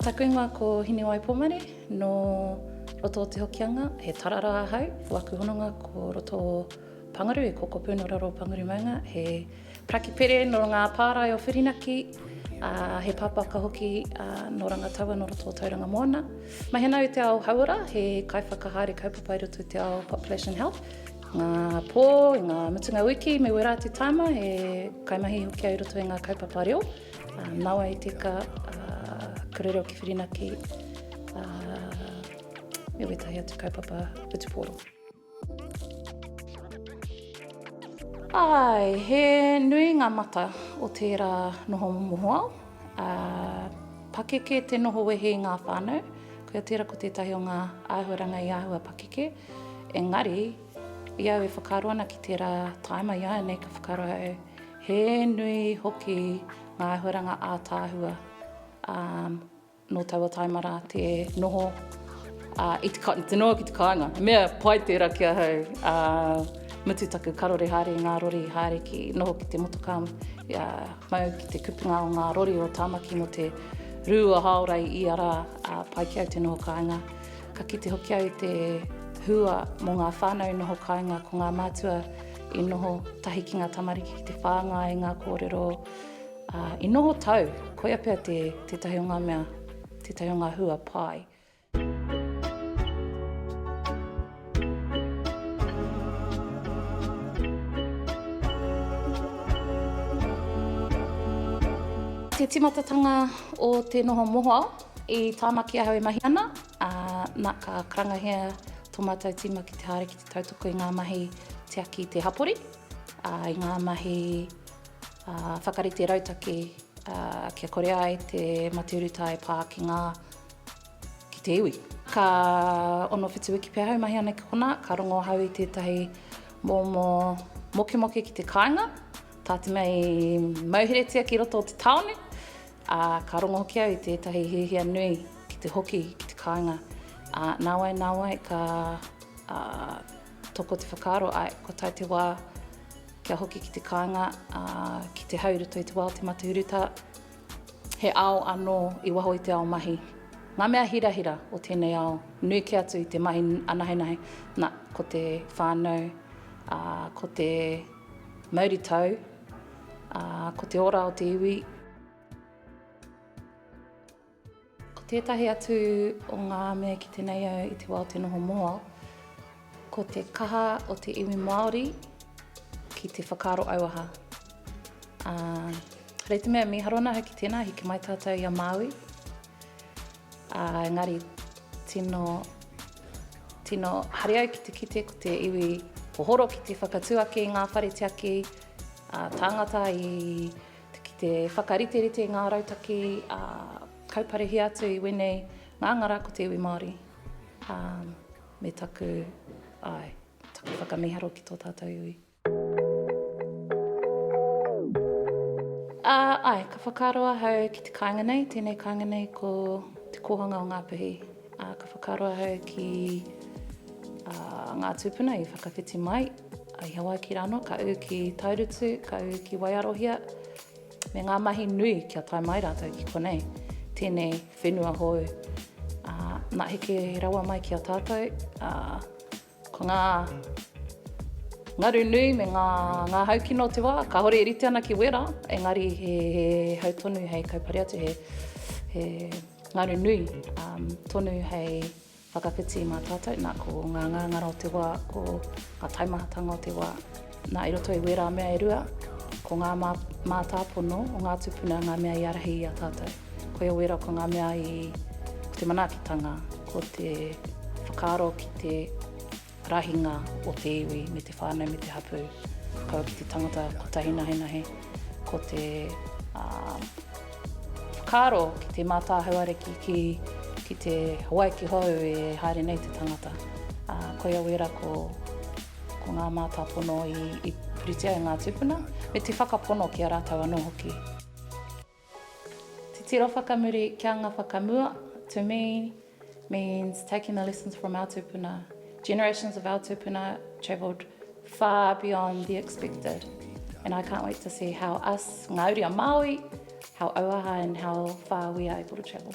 Taku ingoa ko Hinewai Pomare, no roto o Te Hokianga, he tarara ahau, ko aku hononga ko roto o Pangaru, e Kokopu no raro o Pangaru maunga, he Paraki Pere no ngā pārae o Whirinaki, ā, he pāpāka hoki no Rangataua no roto o Tauranga Moana. Mahena au i te ao hauora, he kaiwhakahaere kaupapa i roto i te ao Population Health, Ngā pō, i ngā mutunga wiki me wera atu tāma he kaimahi hoki au i roto i ngā kaupapa reo. Nawa i tika, kura reo ki Whirinaki, me wētahi atu kaupapa whutupōro. Āe, he nui ngā mata o tērā noho mohoao. Pakeke te noho wehe i ngā whānau. Koia tērā ko tētahi o ngā āhuaranga i āhua pakeke. Engari, i au e whakaaro ana ki tērā tāima iāianei ka whakaaro au, he nui hoki ngā āhuaranga ātaahua ā, nō taua tāima rā te noho ā, i te, te noho ki te kāinga. Mea pai tērā ki ahau, ā, mutu taku karore haere i ngā rori, haere ki noho ki te motokā, ia, mau ki te kupinga o ngā rori o Tāmaki mō te rū o Hāorai ia rā, ā, pai ki au te noho kāinga. Ka kite hoki au i te hua mō ngā whānau noho kāinga ko ngā mātua i noho tahi ki ngā tamariki ki te whāngai i ngā kōrero uh, i noho tau. Koia pea te, te tahi o ngā mea, te tahi o ngā hua pai. Te timatatanga o te noho mohoao. I Tāmaki ahau e mahi ana, ā, nā, ka karangahia tō mātou tīma ki te haere ki te tautoko i ngā mahi tiaki i te hapori, ā, i ngā mahi ā, whakarite rautaki ā, kia kore ai te mate urutā e pā ki ngā, ki te iwi. Ka 6-7 wiki pea ahau e mahi ana ki konā, ka rongo ahau i tētahi momo mokemoke ki te kāinga, tā te mea i mauheretia ki roto o te tāone, Ā, ka rongo hoki au i tētahi hiahia nui ki te hoki ki te kāinga, ā, nāwai, nāwai ka, ā, toko te whakaaro, āe, kua tae te wā kia hoki ki te kāinga, ā, ki te hau i roto i te wā o te mate urutā, he ao anō i waho i te ao mahi. Ngā mea hirahira o tēnei ao, nui kē atu i te mahi anahenahe, nā, ko te whānau, ā, ko te mauritau, Ā, ko te ora o te iwi. Ko tētahi atu o ngā mea ki tenei au i te wā o te noho moa, ko te kaha o te iwi Māori ki te whakaaro auaha. Ā, rei te mea, mīharo ana hoki tēnā, hiki mai tātou i a Māui. Ā, engari tino, tino haere au ki te kite ko te iwi hohoro ki te whakatū ake i ngā whare tiaki ā, tāngata i te, ki te whakariterite i ngā rautaki ā, kauparehia atu i wēnei ngāngara ko te iwi Māori ā, me taku, āe, taku whakamiharo ki tō tātou iwi. Ā, āe, ka whakaaro ahau ki te kāinga nei, tēnei kāinga nei ko Te Kōhanga o Ngā Puhi. Ā, ka whakaaro ahau ki ngā tūpuna i whakawhiti mai i Hawaiki rānō, ka ū ki Taurutu, ka ū ki Waiarohia, me ngā mahi nui kia tae mai rātou ki konei, tēnei whenua hou. Ā, nā heke rawa mai ki a tātou, ā, Ko ngā ngaru nui me ngā ngā hau kino o te wā, kāore e rite ana ki wera, engari he hau tonu hei kaupare atu, he he ngaru nui um, tonu hei whakawhiti mā tātou, nā ko ngā ngāngara o te wā, ko ngā taimahatanga o te wā. Nā, i roto i wērā mea e rua, ko ngā mā, mātāpono o ngā tūpuna ngā mea i ārahi i a tātou. Koia wērā ko ngā mea i, ko te manaakitanga, ko te whakaaro ki te rahinga o te iwi me te whānau me te hapū, kaua ki te tangata kotahi nahenahe, ko te uh, whakaaro ki te mātāhau ariki ki, ki te Hawaiki hou e haere nei te tangata. Uh, koia wērā ko Ko ngā mātāpono i puritia e ngā tūpuna, me te whakapono ki a rātou anō hoki. Titiro whakamuri ki anga whakamua, to me, means taking the lessons from our tūpuna. Generations of our tūpuna travelled far beyond the expected and I can't wait to see how us, ngā uri a Māui, how auaha and how far we are able to travel.